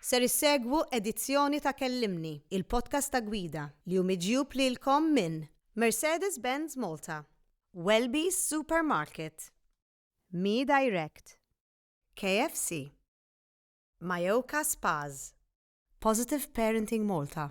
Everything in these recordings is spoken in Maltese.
Ser issegwu edizzjoni ta' Kellimni, il-podcast ta' gwida, li hu miġjub lilkom minn Mercedes-Benz Malta, Welby's Supermarket, Me Direct, KFC, Mayoka Spas, Positive Parenting Malta,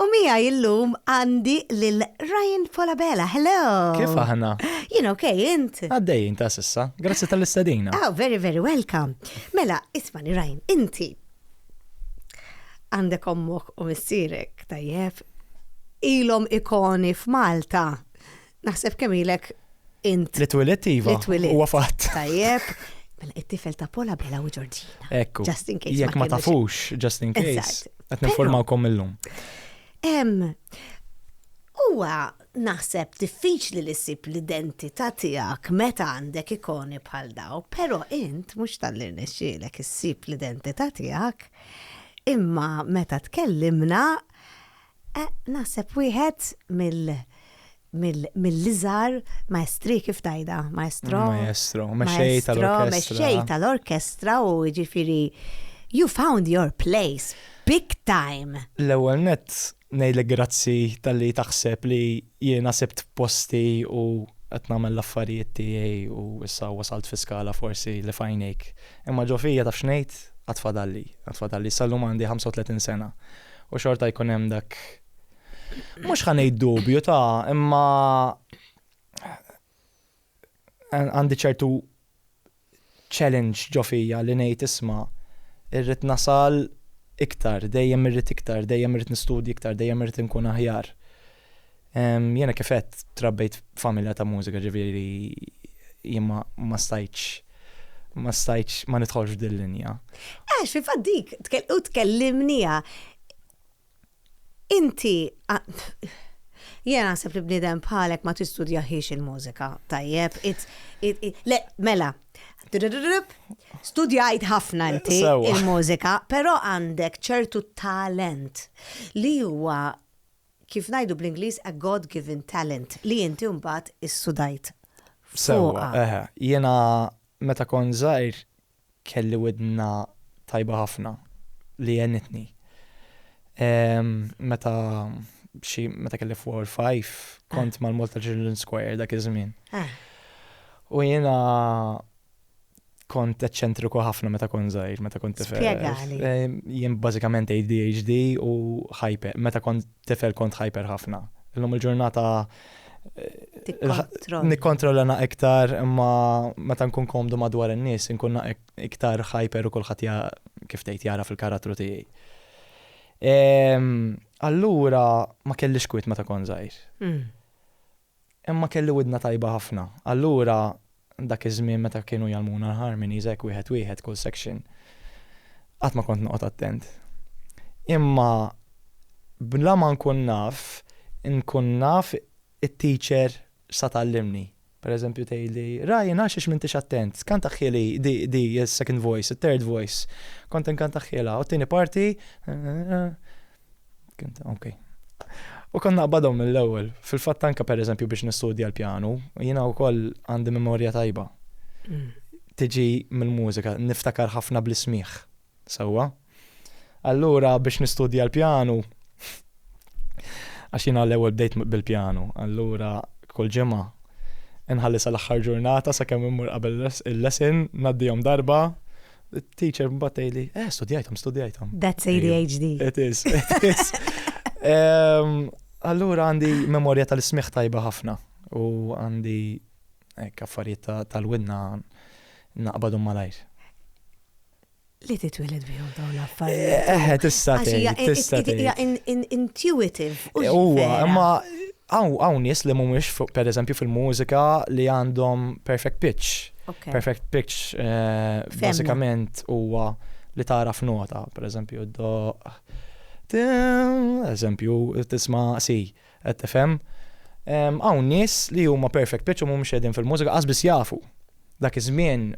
U miegħi illum għandi lil Ryan Falabella. Hello! Kif aħna? Jien ok, int? Għaddejjin ta' s'issa. Grazzi tal-istedina. Oh, very very welcome. Mela, ismani Ryan, inti għandek ommok u missierek tajjeb ilhom ikoni f'Malta Naħseb kemm ilek int. Li twilet iva. Li twilet. Huwa fatt. Tajjeb. Mela it-tifel ta' Pola Bella u Ġorġina. Ekku. Just in case. Jekk ma tafux, just in case. Qed ninformawkom illum. Huwa naħseb diffiċli li ssib l-identità tiegħek meta għandek ikoni bħal daw, però int mhux tal-li rnexxielek issib l-identità tiegħek, imma meta tkellimna Naħseb wieħed mill mill-iżgħar maestri kif tgħidha? Maestro? Maestro, mexxej tal-orkestra. Mexxej tal-orkestra u jiġifieri you found your place big time. L-ewwel nett ngħidlek grazzi talli taħseb li Jiena sibt posti u qed nagħmel l-affarijiet tiegħi u issa wasalt fi skala forsi li f'għajnejk. Imma ġo fija taf x'ngħid? Għad fadalli, għad fadalli. Issa llum għandi 35 sena u xorta jkun hemm dak, mhux ħa ngħid dubju ta', imma, għandi ċertu challenge ġo fija li ngħid isma' irrid nasal iktar, dejjem irrid iktar, dejjem irrid nistudji iktar, dejjem irrid nkun aħjar. Jena kifet trabbejt familja ta' mużika ġiviri jimma ma stajċ ma stajċ ma nitħolx dil-linja. Għax, fil-fat dik, u tkellimnija, Inti Jiena naħseb li bniedem bħalek ma tistudjahiex il-mużika tajjeb. Le, mela. Studjajt ħafna inti il-mużika, però għandek ċertu talent li huwa kif ngħidu bl-Ingliż a God-given talent li inti mbagħad issudajt. Sewwa, eħe. Jiena meta kont żgħir kelli widna tajba ħafna li għenitni. Meta xi meta kelli four or five kont mal-Malta Children's Choir dak iż-żmien. U jiena kont eċċentriku ħafna meta kont żgħir, meta kont tifel. Spjegali. Jien bażikament ADHD u hyper. Meta kont tifel kont hyper ħafna. Illum il-ġurnata nikkontrolla na iktar imma meta nkun komdu madwar in-nies nkun na iktar hyper u kulħadd kif tgħid jara fil-karattru tiegħi. Ehm, allura ma kellix kwit meta kon żgħir. Hmm. Imma kelli widna tajba ħafna. Allura, dak iż-żmien meta kienu jgħallmuna l-harmonies hekk wieħed wieħed kull section, qatt ma kont noqgħod attent. Imma bla ma nkun naf, inkun naf it-teacher x'sa tgħallimni. Per eżempju tgħidli, Ryan għax għax m'intix attent, kantaħhieli di, di, is-second voice, it-third voice. Kont inkantaħhielha, u t-tieni parti, Ok. U kon naqbadhom mill-ewwel. Fil-fatt anke pereżempju biex nistudja l-pjanu, jiena wkoll għandi memorja tajba. Mm. Tiġi mill-mużika, niftakar ħafna bl-ismiħ. Sewwa. Allura biex nistudja l-pjanu, għax jiena l-ewwel bdejt bil-pjanu, allura kull ġimgħa inħalli sal-aħħar ġurnata sakemm immur qabel il-lesson, ngħaddihom darba, Teacher mbagħad tgħidli, eh studjajthom, studjajthom. That's ADHD. It is, it is. Allura għandi memorja tal-ismiħ tajba ħafna u għandi kaffariet tal-winna naqbadu malajr. Li titwiled bihom daw l-affarijiet. Eh, eh tista' tgħid, tista' tgħid. Intuitive. Huwa, imma Hawn nies li mhumiex pereżempju fil-mużika li għandhom perfect pitch. Perfect pitch bażikament huwa li tagħraf nota, pereżempju ddoqq eżempju tisma' C, qed tifhem? Hawn nies li huma perfect pitch u mhumiex qegħdin fil-mużika, qas biss jafu. Dak iż-żmien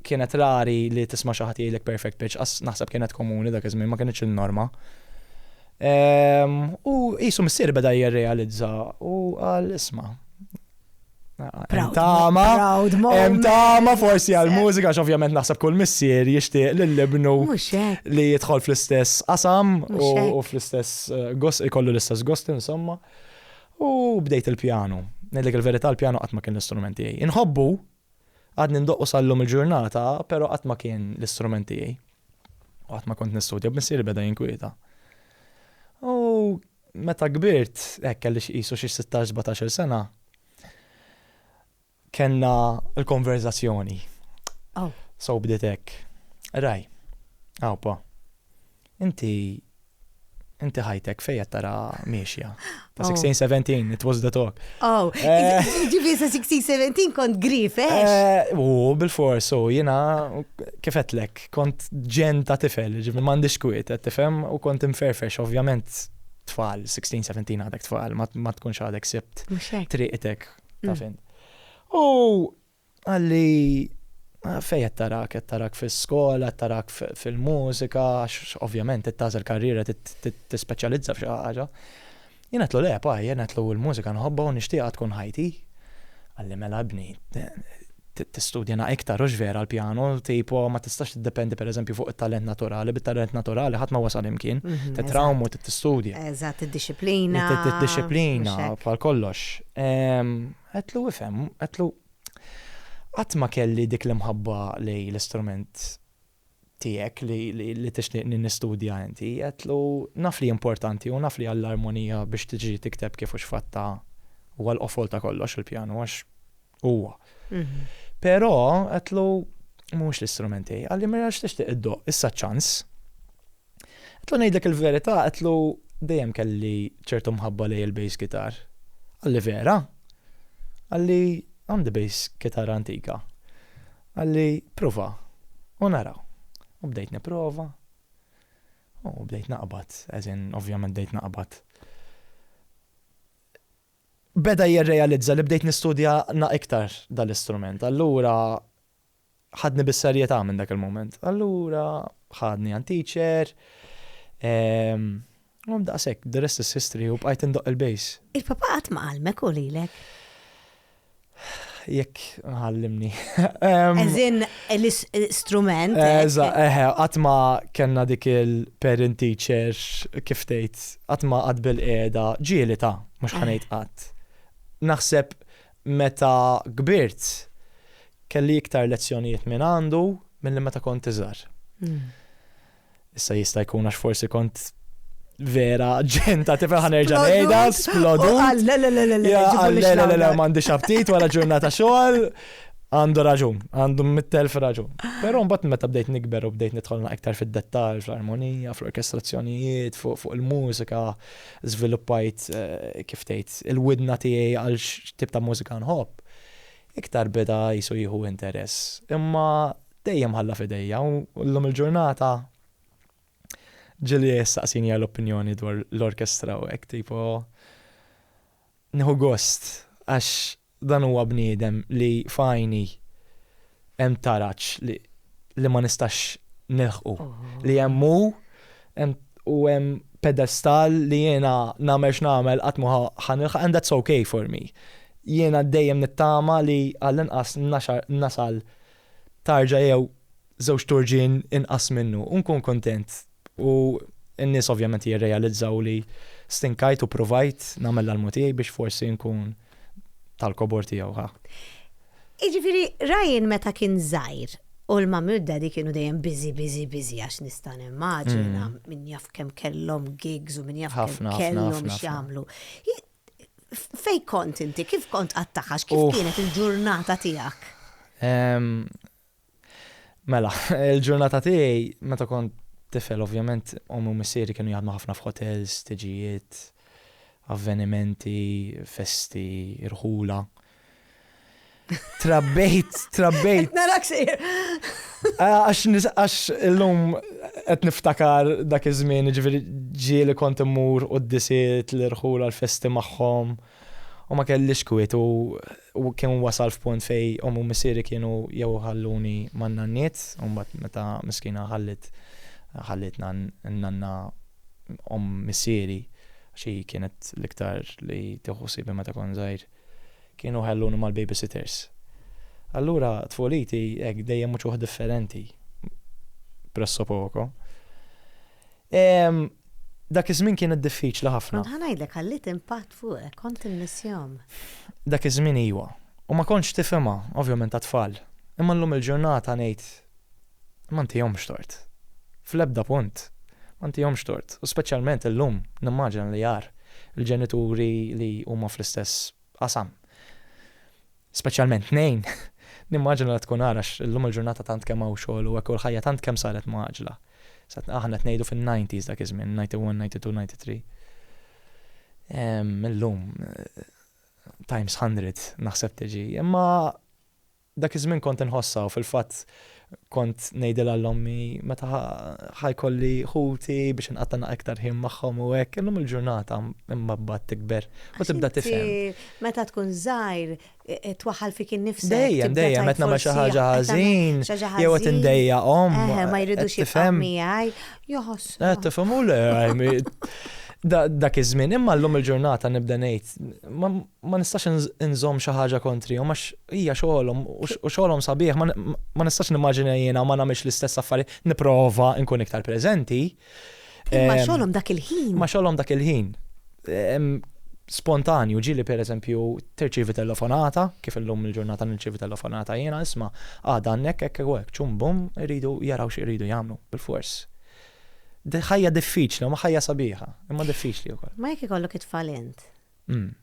kienet rari li tisma' xi ħadd jgħidlek perfect pitch, qas naħseb kienet komuni dak iż-żmien, ma kinitx il-norma. U qisu missieri beda jirrealizza u qal isma', Hemm tama, hemm tama forsi għall-mużika, x'ovvjament naħseb kull missier jixtieq lill-ibnu li jidħol fl-istess qasam u fl-istess eh, gost, ikollu l-istess gost insomma. U bdejt il-pjanu. Ngħidlek il-verità l-pjanu qatt ma kien l-istrument tiegħi. Inħobbu, għadni ndoqqu sal-lum il-ġurnata, però qatt ma kien l-istrument tiegħi. U qatt ma kont nistudja, b'missieri beda jinkwieta. U meta kbirt, hekk kelli xi qisu xi 16-17-il sena, Kellna l-konverżazzjoni. Aw. So bdiet hekk. Raj. Aw pa. Inti inti ħajtek fejn qed tara miexja. Ta' 16 17 it was the talk. Oh, eh. ġifieri sa 16 17 kont grif, eh? eh u bil-fors, u jiena kif qedlek, kont ġen ta' tifel, ġifieri m'għandix kwiet, qed tifhem u kont imferfex, ovvjament tfal, 16 17 għadek tfal, ma tkunx għadek sibt triqtek. Ta' fin. U għalli ah, fej qed tarak, qed tarak fis-skola, qed tarak fil-mużika, għax ovvjament qed tażel karriera tispeċjalizza f'xi ħaġa. Jien qed le, pa, jien qed l-mużika nħobba u nixtieqha tkun ħajti. Għalli mela bni, tistudja na iktar hux vera l-pjanu, tipo ma tistax tiddependi pereżempju fuq it-talent naturali, bit-talent naturali ħadd ma wasal imkien, titrawm u tistudja. Eżatt, id-dixxiplina. Id-dixxiplina bħal kollox. Għedtlu ifhem, għedtlu qatt ma kelli dik l-imħabba lejn l-istrument tiegħek li tixtieqni nistudja inti, għedtlu, naf li importanti u naf li għall-armonija biex tiġi tikteb kif u x'fatt ta' huwa l-qofol ta' kollox il-pjanu għax huwa. Però għedtlu, mhux l-istrument tiegħi. Qalli, mela x'tixtieq iddoqq, issa ċ-ċans. Għetlu ngħidlek il-verità, għetlu dejjem kelli ċertu mħabba lej il-bass gitar. Għalli vera, għalli għandi bass gitar antika. Għalli prova, u naraw. U bdejt niprova, u bdejt naqbad, eżin ovvjament bdejt naqbad beda jirrealizza li bdejt nistudja na iktar dal-istrument. Allura ħadni bis-serjetà minn dak il-mument. Allura ħadni għand teacher, ehm, u daqshekk, the rest is history u bqajt indoq il-bejs. Il-papa qatt ma qalmek u lilek? jekk ħallimni. Eżin l-istrument. Eża, eħe, għatma kena dik il-parent teacher kif tgħid, għatma għad bil-qeda, ġieli ta' mhux ħanejt qatt. Naħseb Meta kbirt, kelli iktar lezzjonijiet minn għandu milli meta kont iżgħar. Issa jista' jkun għax forsi kont vera ġenta tifel ħanerġa' ngħidha splodu. Le le le le le. Le le le le m'għandix aptit wara ġurnata xogħol. Għandu raġun, għandu mit-telf raġun. Però mbagħad meta bdejt nikber u bdejt nidħol iktar fid-dettall, fl-armonija, fl-orkestrazzjonijiet, fuq il-mużika, żviluppajt, kif tgħid, il-widna tiegħi għal x'tip ta' mużika nħobb, iktar beda qisu jieħu interess. Imma dejjem ħalla f'idejja u llum il-ġurnata ġieli jistaqsini għal opinjoni dwar l-orkestra u hekk tipo. Nieħu gost għax dan huwa bniedem li f'għajni hemm taraġ li li ma nistax nilħqu. Li hemm hu hemm u hemm pedestal li jiena nagħmel x'nagħmel qatt ma ħa nilħaq and that's ok for me. Jiena dejjem nittama li għallinqas nasal tarġa jew żewġ turġien inqas minnu u nkun kuntent. U n-nies ovvjament jirrealizzaw li stinkajt u pruvajt nagħmel l-almu tiegħi biex forsi nkun tal-kobor tiegħu, ħa. Jiġifieri Ryan meta kien żgħir u l-mummy u d-daddy kienu dejjem busy, busy, busy għax nista' nimmaġina min jaf kemm kellhom gigs u min jaf kemm kellhom x'jagħmlu. Fejn kont inti? Kif kont qattaħax? Kif kienet il-ġurnata tiegħek? Mela, il-ġurnata tiegħi meta kont tifel ovvjament ommi u missieri kienu jaħdmu ħafna f'hotels, tiġijiet, avvenimenti, festi, irħula. Trabbejt, trabbejt. Narak sir. Ah, għax illum qed niftakar dak iż-żmien, ġifieri ġieli kont immur u d-disiet l-irħula l-festi magħhom u ma kellix kwiet u u kien wasal f'punt fejn omm u missieri kienu jew iħalluni man-nanniet u mbagħad meta miskina ħalliet ħallietna n-nanna omm missieri għax hi kienet l-iktar li tieħu ħsiebha meta kont żgħir, kienu jħalluni mal-babysitters. Allura tfuliti hekk dejjem mhux waħda differenti, presso poco. Ehm, dak iż-żmien kienet diffiċli ħafna. Kont ħa ngħidlek ħalliet impatt fuqek, kont immissjhom. Dak iż-żmien iwa. U ma kontx tifhimha, ovvjament għat-tfal. Imma llum il-ġurnata ngħid, ma ntihomx tort. Fl-ebda punt. Ma ntihomx tort. U speċjalment illum, nimmaġina li agħar, il-ġenituri li huma fl-istess qasam. Speċjalment tnejn. Nimmaġina li tkun agħar għax illum il-ġurnata tant kemm hawn xogħol u hekk u l-ħajja tant kemm saret mgħaġġla. Sa aħna qed ngħidu fin-nineties dak iż-żmien, ninety one, ninety two, ninety three. Illum times hundred naħseb tiġi. Imma dak iż-żmien kont inħossha u fil-fatt Kont ngħidilha l-ommi meta ħa jkolli ħuti biex inqatta' naq iktar ħin magħhom u hekk, illum il-ġurnata imma mbagħad tikber u tibda tifhem. Meta tkun żgħir e, e, twaħħal fik innifsek. Dejjem, dejjem qed nagħmel xi ħaġa ħażin, jew qed indejja om. Eh, ma jridux jifhem miegħi, joħoss. Eh, tifhem u le, dak iż-żmien, imma llum il-ġurnata nibda ngħid, ma nistax inżomm xi ħaġa kontrihom għax hija xogħolhom u xogħolhom sabiħ ma nistax nimmaġina jiena ma nagħmilx l-istess affarijiet nipprova nkun iktar preżenti. Imma ehm, xogħolhom dak il-ħin. Ma xogħolhom dak il-ħin. Ehm, spontanju ġili per eżempju terċivi telefonata, kif illum il-ġurnata nirċivi telefonata jiena isma' għada għannek hekk hekk ċum bum iridu jaraw xi jridu jagħmlu bil-fors. Ħajja diffiċli, ma ħajja sabiħa, imma diffiċli wkoll. Ma jekk ikollok it-tfal int, Mm.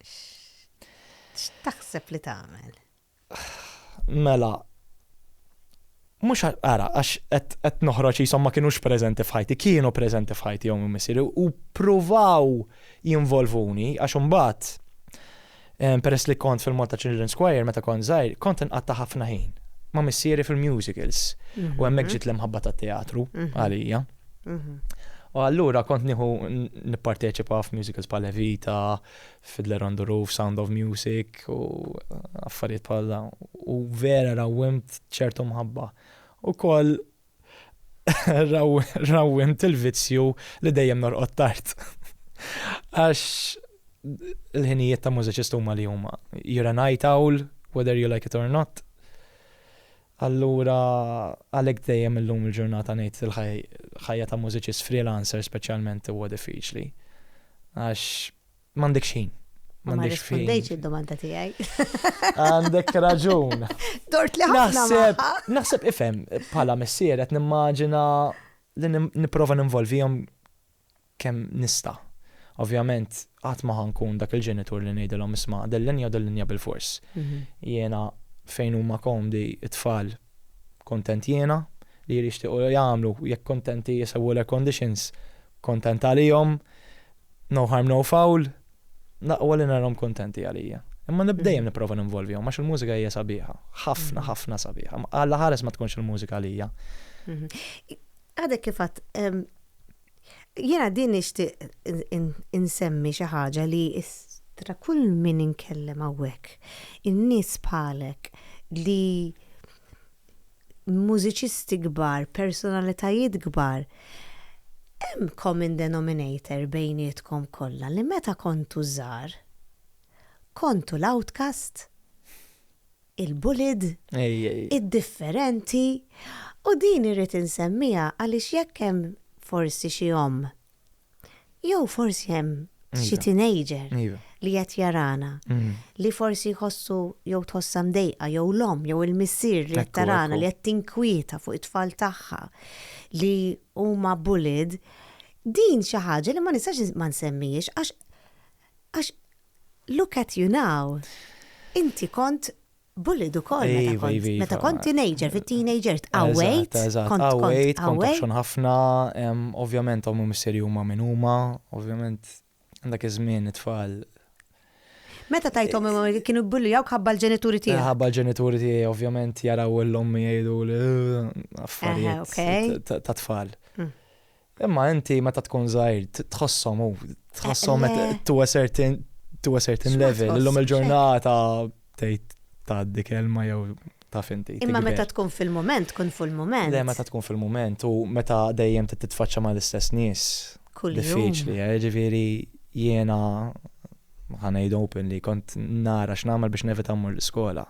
X'taħseb li tagħmel? Mela, mux għara, għax għet noħroċ jisom ma kienux prezenti fħajti, kienu prezenti fħajti jom missiri, u provaw jinvolvuni, għax unbat, peress li kont fil-Malta Children's Choir, meta kont zaħir, kont nqatta ħafna ħin, ma missiri fil-musicals, u għemmek mhm. ġit l-imħabba ta' teatru, mhm. għalija. U allura kont nieħu nipparteċipa f'musicals bħal Evita, Fiddler on the Roof, Sound of Music u affarijiet bħal dawn. U vera rawwimt ċertu mħabba. U koll rawwimt il-vizzju li dejjem norqod tard. Għax il-ħinijiet ta' mużiċist huma li huma. You're a night owl, whether you like it or not. Allura għalhekk dejjem illum il-ġurnata ngħid il-ħajja ta' mużiċist freelancer speċjalment huwa diffiċli. Għax m'għandekx ħin. Ma rrispondejtx id-domanda tiegħi. Għandek raġun. Dort li naħseb. Naħseb ifhem bħala missier qed nimmaġina li nipprova ninvolvihom kemm nista'. Ovvjament qatt ma ħa nkun dak il-ġenitur li ngħidilhom isma' din linja u din linja bilfors. Jiena fejn huma komdi t-tfal kuntent jiena, li jirixtiequ jagħmlu jekk kuntenti jsewwu l-airconditions kuntent għalihom, no harm no foul, l-aqwa li narahom kuntenti għalija. Imma nib dejjem nipprova ninvolvihom għax il-mużika hija sabiħa, ħafna ħafna sabiħa. Alla ħares ma tkunx il-mużika għalija. Għadek kif għedt Jiena din nixtieq insemmi xi ħaġa li tra kull min inkellem hawnhekk, in-nies bħalek li mużiċisti kbar, personalitajiet kbar, hemm common denominator bejnietkom kollha li meta kontu żgħar kontu l-outcast. il-bullied, id-differenti, u din irrid insemmiha għaliex jekk hemm forsi xi omm, jew forsi hemm xi teenager li qed jarana, li forsi jħossu jew tħossha mdejqa jew l-omm jew il-missier li qed tarana li qed tinkwieta fuq it-tfal tagħha li huma bullied, din xi ħaġa li ma nistax ma nsemmihiex għax Look at you now. Inti kont bullied ukoll meta Iva, kont. iva, iva. Meta kont teenager, fit-teenage years, qawwejt. Eżatt, eżatt. Kont, kont Qawwejt, kont qawwej. obxxon ħafna. em, Ovvjament omm u missieri huma min huma. Ovvjament dak iż-żmien it-tfal. Meta tgħid omm u missieri kienu jbullijawk ħabba l-ġenituri tiegħek? Ħabba l-ġenituri tiegħi ovvjament jaraw 'l ommi jgħiduli, Eħe, affarijiet ok. ta' ta' tfal. Mm. Imma inti meta tkun żgħir tħossom u tħossom eh, eh. to a certain to a certain level illum il-ġurnata tgħid tgħaddi kelma jew ta' finti. Imma meta tkun fil-moment, tkun fil-moment. Le, meta tkun fil-moment u meta dejjem titfaċċa ma' l-istess nies. Diffiċli, eh, ġifieri jiena ħanajd open li kont nara x'nagħmel biex nevita mmur l-iskola.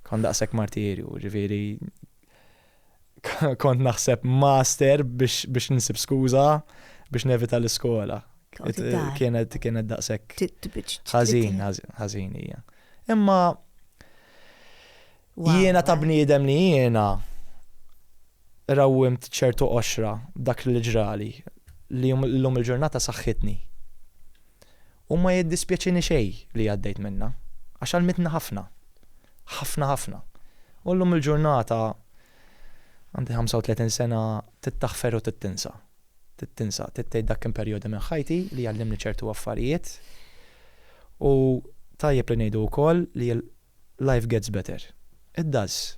Kont daqshekk martirju, ġifieri Kont naħseb master biex nsib skuża biex nevita l-iskola. Kienet kienet daqshekk. Ħażin, ħażin hija. Imma jiena ta' bniedem li jiena rawwimt ċertu qoxra dak li ġrali li llum il-ġurnata saħħitni. U ma jiddispjaċini xejn li għaddejt minnha, għax għallmitni ħafna. Ħafna ħafna. U llum il-ġurnata, għandi 35 sena, trid taħfer u trid tinsa. Trid tinsa, trid tgħid dak kien perjodu minn ħajti li għallimni ċertu affarijiet. U tajjeb li ngħidu wkoll li Life gets better. It does.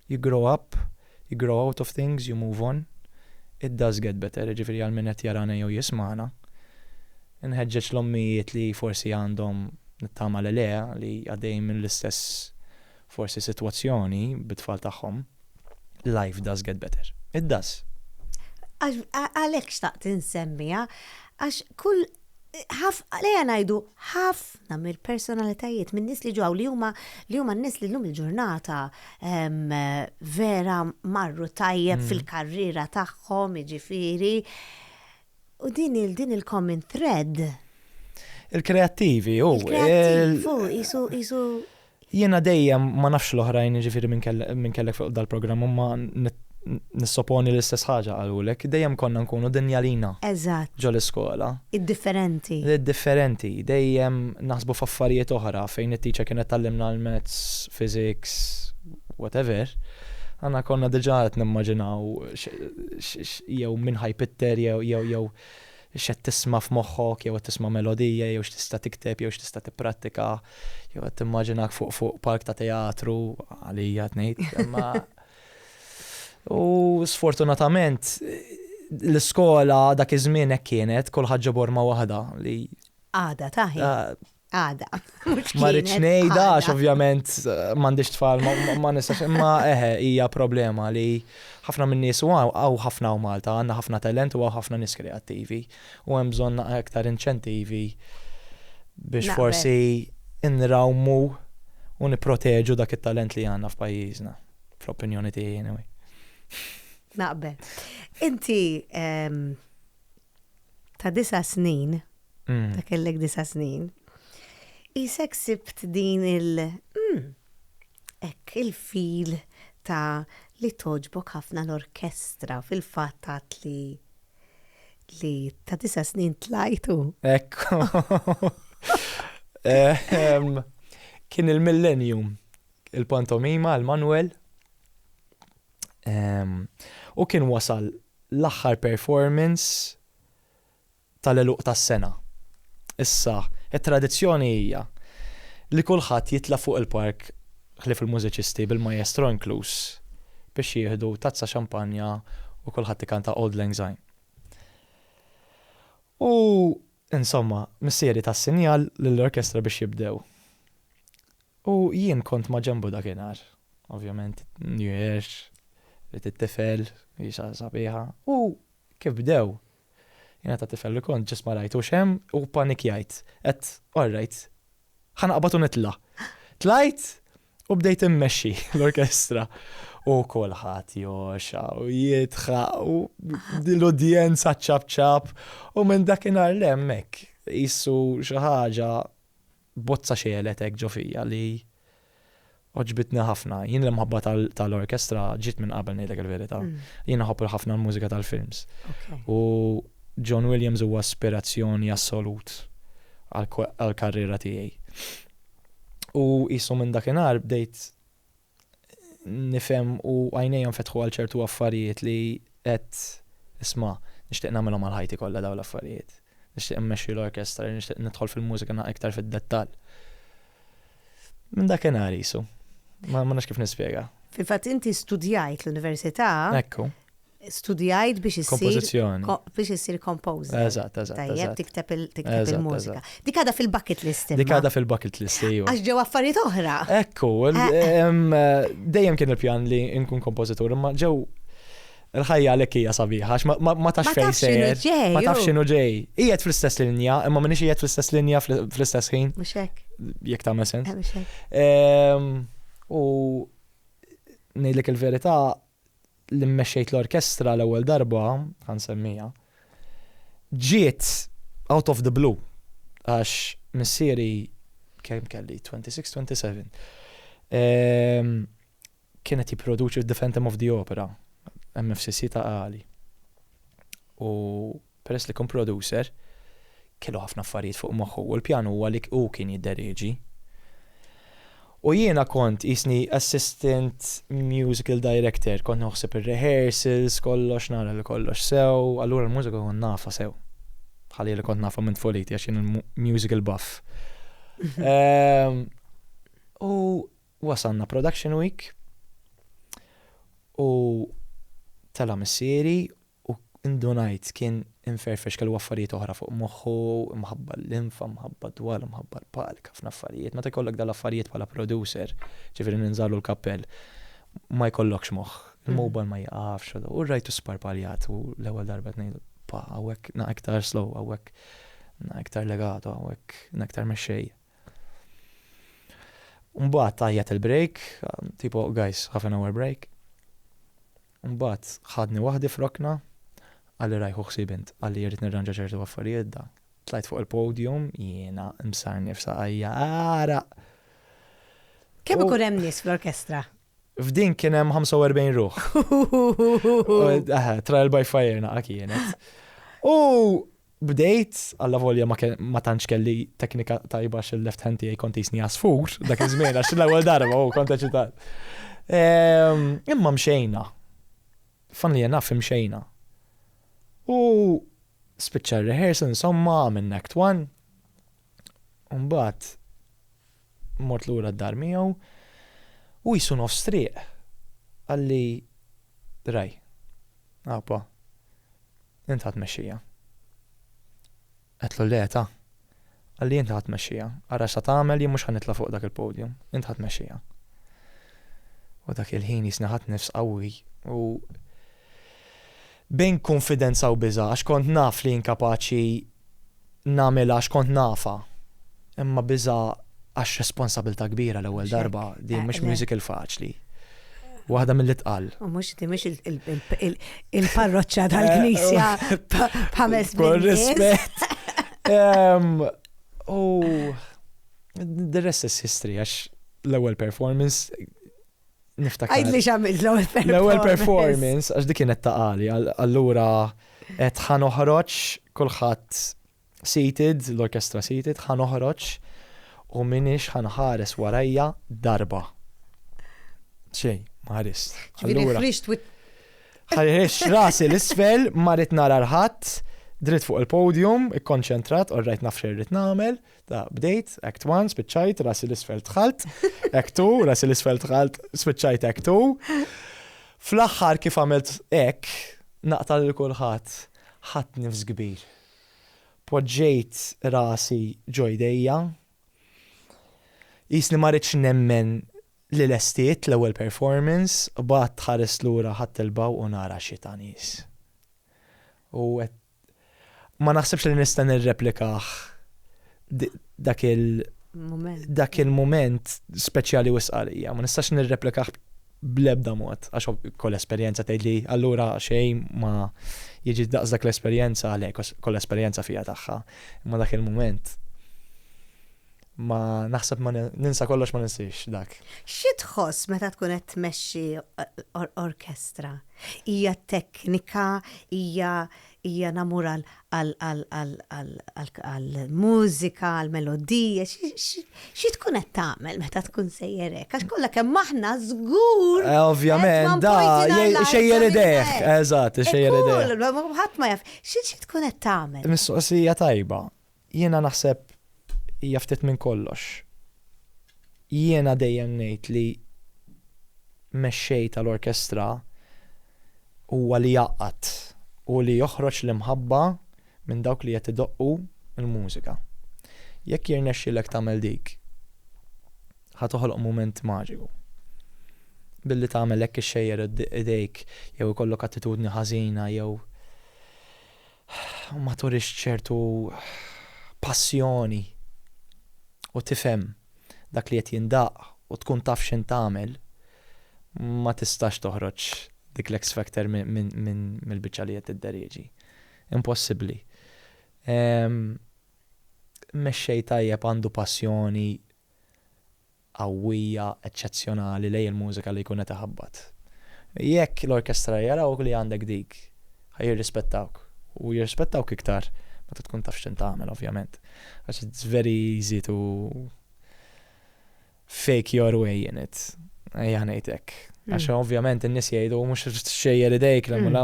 You grow up, you grow out of things, you move on. It does get better, jiġifieri għal min qed jarana jew jismagħna, inħeġġeġ l-ommijiet li forsi għandhom, nittama li le, li għaddejjin minn l-istess forsi sitwazzjoni bit-tfal tagħhom, life does get better. It does. Għalhekk xtaqt insemmiha, għax kull, ejja ngħidu, ħafna, ħafna mill-personalitajiet, minn nies li ġew li huma li huma n-nies li llum il-ġurnata ehm, vera marru tajjeb hmm. fil-karriera tagħhom, jiġifieri. U din il din il-common thread. Il-kreattivi, u. Il-kreattivi, jisu Jiena dejjem, ma nafx l-oħrajn jiġifieri min kellek fuq dal-programm imma nissoponi li l-istess ħaġa qalulek, dejjem konna nkunu dinjalina ġol-iskola. Id-differenti. Id-differenti. Dejjem naħsbu f'affarijiet oħra fejn it-teacher kienet tgħallimna l-maths, physics, whatever, aħna konna diġà qed nimmaġinaw jew min ħa jpitter jew x'qed tisma' f'moħħok jew qed tisma' melodija jew x'tista' tikteb jew x'tista' tipprattika jew qed timmaġinak fuq fuq palk ta' teatru, għalija qed ngħid, imma u sfortunatament l-iskola dak iż-żmien hekk kienet, kulħadd ġo borma waħda li Għada ta' ħin. Għada. Ma rridx ngħidha għax ovvjament eh, m'għandix tfal ma nistax imma eħe hija problema li ħafna minn nies u għaw ħafna u Malta għandna ħafna talent u għaw ħafna nies kreattivi u hemm bżonn aktar inċentivi biex forsi inrawmu u niproteġu dak it-talent li għandna f'pajjiżna fl-opinjoni tiegħi anyway. Naqbel. Inti ehm, ta' disa' snin, ta' kellek disa' snin, qisek sibt din il- mm, hekk, il-feel ta' li togħġbok ħafna l-orkestra, fil-fatt għedt li li ta' disa' snin tlajtu. Ekku. Kien il-Millennium, il-pantomima għal Manwel. U kien wasal l-aħħar performance tal-għeluq tas-sena. Issa, it-tradizzjoni hija li kulħadd jitla' fuq il-palk, ħlief il-mużiċisti, bil-maestro inkluż, biex jieħdu tazza xampanja u kulħadd ikanta Auld Lang Syne. U, insomma, missieri ta s-sinjal lill-orkestra biex jibdew. U jien kont maġenbu dakinhar. Ovvjament, New Year's, ridt it-tifel, hi xi ħaġa sabiħa. U kif bdew, jiena ta' tifel li kont, ġust ma rajtux hemm u ppanikjajt. Għedt, all right, ħa naqbad u nitla'. Tlajt u bdejt immexxi l-orkestra. U kulħadd jogħxa u jidħaq u l-udjenza ċċapp ċapp. U minn dakinhar 'l hemm hekk, qisu xi ħaġa Bozza xegħlet hekk ġo fija li għoġbitni ħafna. Jien l-imħabba tal-orkestra ġiet minn qabel ngħidlek il-verità. Jien nħobb ħafna l-mużika tal-films. U John Williams huwa ispirazzjoni assolut għall-karriera tiegħi. U qisu minn dakinhar bdejt nifhem u għajnejja nfetħu għal ċertu affarijiet li għedt isma' nixtieq nagħmilhom għal ħajti kollha dawn l-affarijiet. Nixtieq immexxi l-orkestra, nixtieq nidħol fil-mużika naqra iktar fid-dettall. Minn dakinhar qisu. Ma nafx kif nispjega. Fil-fatt inti studjajt l-università. Ekku. studjajt biex issir. Kompożizzjoni. Biex issir kompożi. Eżatt, eżatt. Tajjeb, tikteb il-mużika. Dik għadha fil-bucket list. Dik għadha fil-bucket list, ejju. Għax ġew affarijiet oħra. Ekku, eh, eh. Eh, dejjem kien il-pjan li nkun kompożitur, imma ġew il-ħajja għalek hija sabiħa, ma tafx fejn sejjer. Ma tafx x'inhu ġej. Qiegħed fl-istess linja, imma minix qiegħed fl-istess linja fl-istess ħin. Mhux hekk. Jekk tagħmel sens. Ehm, u ngħidlek il-verità li mmexxejt l-orkestra l-ewwel darba, ħa nsemmiha, ġiet out of the blue għax missieri kemm kelli 26, 27. Ehm, kien qed jipproduċi The Phantom of the Opera, MFCC ta' għali. U Peress li kien producer, kellu ħafna affarijiet fuq moħħu u l-pjan huwa li hu kien jidderieġi. U jiena kont qisni assistant musical director, kont noħseb ir-rehearsals, kollox, nara li kollox sew, allura l-mużika kont nafha sew. Bħalli li kont nafha minn tfuliti għax jien musical buff. U wasalna production week u tela' missieri U indunajt kien imferfex kellu affarijiet oħra fuq moħħu, imħabba l-linfa, imħabba d-dwal, imħabba l-palk, ħafna affarijiet. Meta jkollok dawn l-affarijiet bħala producer, ġifieri ninżagħlu l-kappell, ma jkollokx moħħ. Il-mobile ma jieqafx. U rajtu sparpaljat u l-ewwel darba qed ngħidlu, Pa, hawnhekk na iktar slow, hawnhekk na iktar legato, hawnhekk na iktar mexxej. Mbagħad tajjat il-break, tipo guys, half an hour break. Mbagħad ħadni waħdi f'rokna, qalli rajh hu ħsieb int, qalli irrid nirranġa ċertu affarijiet dak. Tlajt fuq il-podium, jiena msarnif saqajja għaraq! Kemm ikun hemm nies fl-orkestra? F'din kien hemm 45 ruħ. Trial by fire naqa' kienet. U Bdejt, allavolja ma tantx kelli teknika tajba għax il-left hand tiegħi kont jisni għasfur dak iż-żmien għax l-ewwel darba u kont eċitat. Ehm, imma mxejna. Fanni jenaf mxejna. U spiċċa rehearsal insomma għamilna act one. Umbat mort lura d-dar miegħu u qisu nofs triq qalli Ray, għapa, int ħa tmexxija. Għedtlu le ta, qalli int ħa tmexxija, ara x'sa tagħmel jien mhux ħa nitla' fuq dak il-podium, int ħa tmexxija. U dak il-ħin jisni ħadd nifs qawwi u Bejn kunfidenza u biża' għax kont naf li inkapaċi nagħmilha għax kont nafha. Imma biża' għax responsabilità kbira l-ewwel darba, din mhux musical faċli. Waħda mill-itqal. U mhux din mhux il-parroċċa tal-Knisja b'ħames Kull rispett. U the rest is history għax l-ewwel performance niftakar. Għidli x'għamilt l-ewwel performance. L-ewwel performance, għax dik kienet ta' għali, allura qed ħa noħroġ kulħadd seated, l-orkestra seated, ħa noħroġ u minix ħanħares warajja darba. Xej, maħarist. Allura. Ħarix rasi l-isfel, marit nara l-ħadd, dritt fuq il-podium, ikkonċentrat, orrajt nafxer rrit namel, Ta' bdejt, act one, spiċċajt, rasi l-isfel tħalt, act two, rasi l-isfel tħalt, spiċċajt act two. Fl-aħħar kif għamilt ek, naqtal il-kulħat, ħat nifs kbir. Poġġejt rasi ġojdejja, jisni marriċ nemmen li l-estiet l-ewel performance, bat ħares l-ura ħat il-baw u nara xita nis. U għet Ma naħsibx li nista' nirreplikah dak il dak il-mument speċjali u sqarija. Ma nistax nirreplikah bl-ebda mod, għax kol esperjenza tgħid li allura xejn ma jiġi daqs dak l-esperjenza għalhekk, kol esperjenza fija tagħha. Ma dak il-mument. Ma naħseb ma ninsa kollox ma ninsiex dak. Xi tħoss meta tkun qed tmexxi orkestra? Hija teknika, hija hija namur għall-mużika, għall-melodija, xi tkun qed tagħmel meta tkun sejjer hekk? Għax kollha kemm aħna żgur. Eh, ovvjament, da, xejjer idejh, eżatt, xejjer idejh. Ħadd ma jaf, xi tkun qed tagħmel? Mistoqsija tajba. Jiena naħseb hija ftit minn kollox. Jiena dejjem ngħid li mexxej tal-orkestra huwa li jgħaqqad u li joħroġ l-imħabba minn dawk li qed idoqqu l-mużika. Jekk jirnexxilek tagħmel dik, ħa toħloq mument maġiku. Billi tagħmel hekk ixxejjer idejk jew ikollok attitudni ħażina jew u ma turix ċertu passjoni u tifhem dak li qed jindaqq u tkun taf x'int tagħmel, ma tistax toħroġ dik l-X Factor mill-biċċa li qed tidderieġi. Impossibbli. Mexxej tajjeb għandu passjoni qawwija, eċċezzjonali lejn il-mużika li jkun qed iħabbat. Jekk l-orkestra jarawk li għandek dik, ħa jirrispettawk. U jirrispettawk iktar meta tkun taf x'int tagħmel ovvjament. Għax it's very easy to fake your way in it. Ejja ngħid hekk. Għax mm. ovvjament in-nies jgħidu mhux xejjer idejk l mm.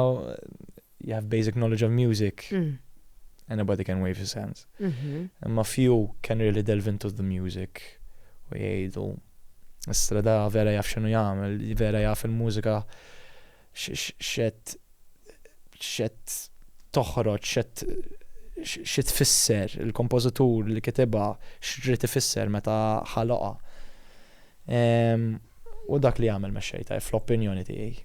you have basic knowledge of music, mm. anybody can wave his hands. Mhm. Imma few can really delve into the music u jgħidu Istra da vera jaf xinu jagħmel, vera jaf il-mużika xet xet toħroġ, xet xi tfisser il-kompożitur li kitibha x'rid ifisser meta ħaloqa. U dak li jagħmel mexxej ta' fl-opinjoni tiegħi.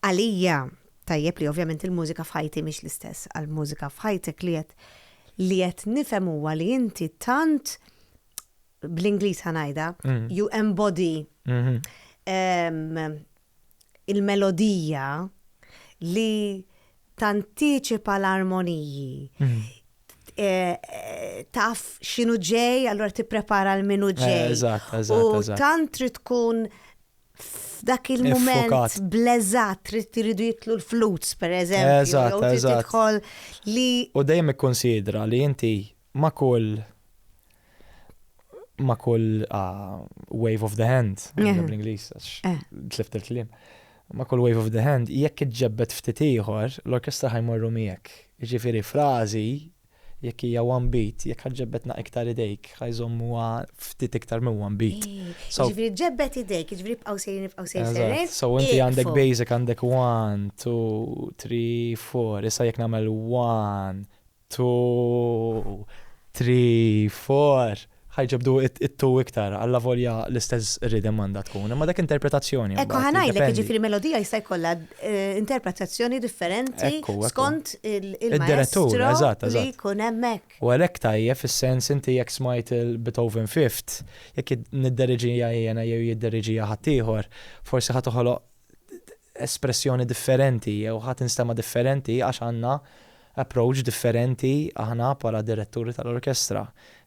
Għalija, tajjeb li ovvjament il-mużika f'ħajti mhix l-istess għal mużika f'ħajtek li qed li qed nifhem huwa li inti tant bl-Ingliż ħanajda, mm. you embody mm-hmm. il-melodija li tantiċipa l-armoniji. Mhm. Eh, eh, taf xinu ġej, allora tipprepara l-minu eh, ġej. Eżatt, eżatt. U tant trid tkun f'dak il-moment bleżat trid tiridu jitlu l-flutes per eżempju. Eżatt, eżatt. Li... U dejjem ikkonsidra li inti ma' kull ma' kull wave of the hand, bl-Ingliż, tlift il-kliem, ma' kull wave of the hand, jekk iġġebbed ftit ieħor, l-orkestra ħa jmorru miegħek. Jiġifieri frażi, jekk hija one beat, jekk ħa ġġebbed naqra iktar idejk, ħa jżommuha ftit iktar minn one beat. Jiġifieri ġebbed idejk, jiġifieri ibqgħu sejrin, ibqgħu sejrin, sejrin. So inti għandek basic, għandek one, two, three, four, issa jekk nagħmel one, Two, three, four. Ħa jġobdu it-two iktar, allavolja l-istess rhythm għandha tkun, imma dak interpretazzjoni mbagħad. Ekku ħa ngħidlek, jiġifieri melodija jista' jkollha interpretazzjoni differenti skont il-direttur li jkun hemmhekk. U għalhekk tajjeb fis-sens inti jekk smajt il-Beethoven Fifth, jekk nidderiġija jiena jew jidderiġija ħaddieħor, forsi ħa toħoloq espressjoni differenti jew ħa tinstema' differenti għax għandna approach differenti aħna bħala diretturi tal-orkestra.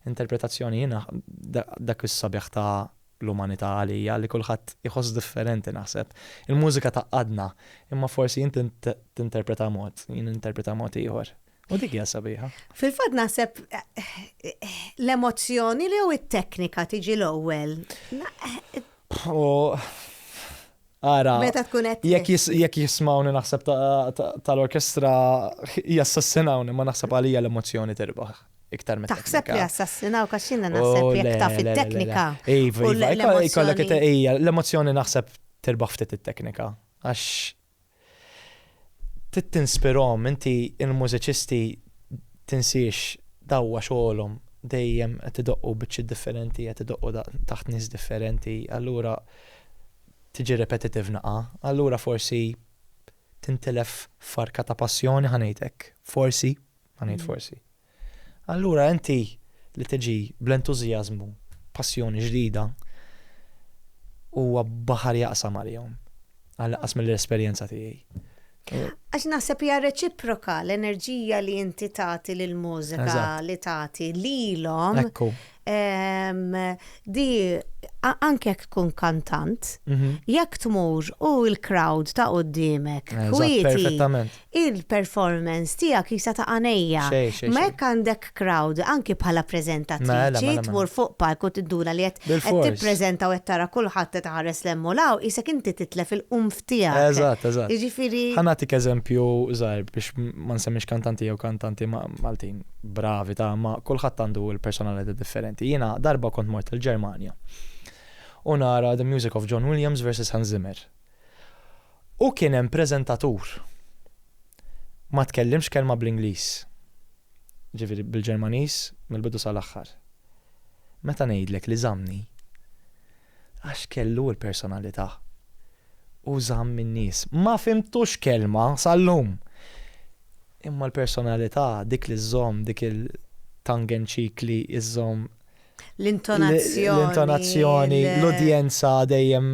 Interpretazzjoni jiena dak is-sabiħ ta' l-umanità għalija li kulħadd iħoss differenti naħseb. Il-mużika tgħaqqadna imma forsi inti tinterpreta mod, jien ninterpreta mod ieħor. U dik hija sabiħa. Fil-fatt naħseb l-emozzjoni li jew it-teknika tiġi l-ewwel. Ara, jekk jismawni naħseb tal-orkestra jassassinawni, ma naħseb għalija l-emozjoni terbaħ. Iktar meta. Taħseb li assassinaw kaxina naħseb jekk taf it-teknika. Iva, iva, ikollok ija, l-emozjoni naħseb terbaħ ftit it-teknika. Għax Trid tinspirahom, inti l-mużiċisti tinsiex dawwa xogħolhom, dejjem qed idoqqu biċċiet differenti, qed idoqqu taħt nies differenti, allura tiġi repetitive naqa', allura forsi tintilef farka ta' passjoni ħa ngħid hekk, forsi, ħa ngħid forsi. Allura inti li tiġi bl-entużjażmu, passjoni ġdida, huwa baħar jaqsam għalihom, għall-inqas mill-esperjenza tiegħi. Għax naħseb hija reċiproka l-enerġija li inti tagħti lill-mużika li tagħti lilhom. Ekku. di anke jekk tkun kantant, mhm. jekk tmur u l-crowd ta' qoddimek, kwieti, il-performance tiegħek jisa ta' għanejja. Ma jekk għandek crowd, anke bħala prezentatriċi, tmur fuq palk u tidduna li qed tippreżenta u qed tara kulħadd qed ħares lemmu law, isek inti titlef il-qumf tiegħek. Eżatt, eżatt. Jiġifieri. Ħanatik eżempju żgħir biex ma nsemmix kantanti jew kantanti Maltin. bravi ta' imma kulħadd għandu l-personalità differenti. Jiena darba kont mort il-Ġermanja u nara The Music of John Williams versus Hans Zimmer. U kien hemm preżentatur ma tkellimx kelma bl-Ingliż. Ġifieri bil-Ġermaniż mill-bidu sal-aħħar. Meta ngħidlek li żammni Għax kellu l-personalità. U żamm in-nies. Ma fhimtux kelma sal-lum! Imma l-personalità, dik li żżomm, dik il-tongue in cheek li żżomm. L-intonazzjoni. L-intonazzjoni, l-udjenza dejjem.